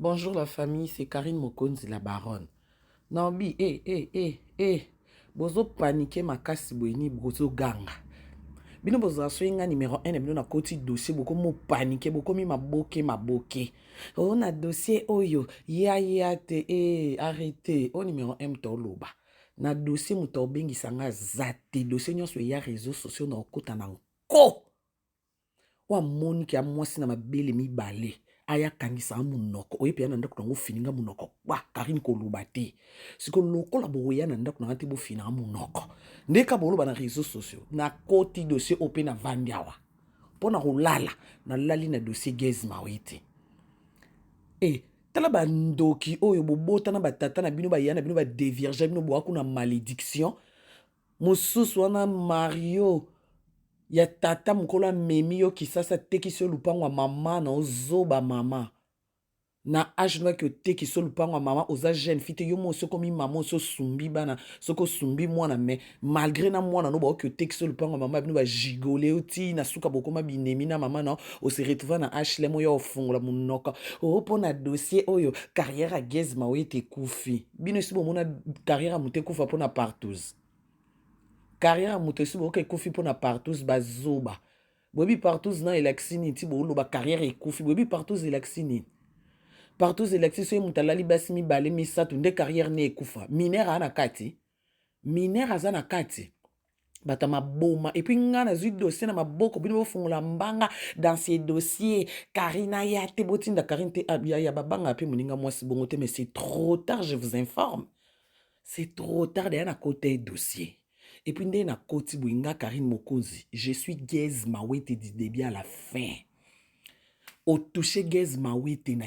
Bonjour la famille, c'est Karine Mokonzi la baronne. Naobi, eh, eh, eh, eh, bozo paniquer makasi boyini bozo ganga. Bino bozala soki nga numero 1 na bino na koti dossier bokomi opanike bokomi maboke maboke o oh, na dossier oyo ya ya te e arrete o oh, numero 1 moto oloba na dossier moto obengisa nga aza te dossier nyonso eya réseau sociaux na okota na nko oyo amoni ke ya mwasi na mabele mibale aya kangisa nga monoko oye mpe ya na ndako na yango ofini nga monoko kpa karine koloba te siko lokola bokoya na ndako na nga te bofina nga monoko ndeka boloba na réseau sociaux nakoti dossier oyo mpe navandi awa mpo na kolala nalali na dossier gaz mawe te e tala bandoki oyo bobota na batata na bino baya na bino badevirge bino boya kuna malediction Mosusu wana Mario ya tata mukolo amemi yo kisasa atekisi yo lupangu ya maman na yo zoba maman na age noki otekisi yo lupangu ya maman oza jeune fille te yo moko osi okomi maman osi osumbi bana soki osumbi mwana mais malgre na mwana na yo baoki otekisi yo lupangu ya maman na bino ba gigole yo ti na suka bokoma binemi na maman na yo o se retrouva na HLM oya ofungola munoko oh pona dossier oyo carrière ya Guez Mawetti ekufi bino esi bomona carrière ya moto ekufa mpo na partous carrière ya moto esi boyoka ekufi mpo na partous bazoba boyebi partous na elakisi nini ti boloba carrière ekufi boyebi partous elakisi nini partous elakisi soki moto alali basi mibale misato nde carrière ne ekufa minere aa na kati minere aza na kati bato ya maboma epui ngai nazwi dossier na maboko bino bofungola mbanga dans ces dossiers carine aya te botinda carine te ah, yaya babanga mpe moninga mwasi bongo te mais c'est trop tard je vous informe c'est trop tard deya nakota ye dossier epui ndenge nakoti boye nga carine mokonzi je suis gaise mawete du début à la fin otouche gaise mawete na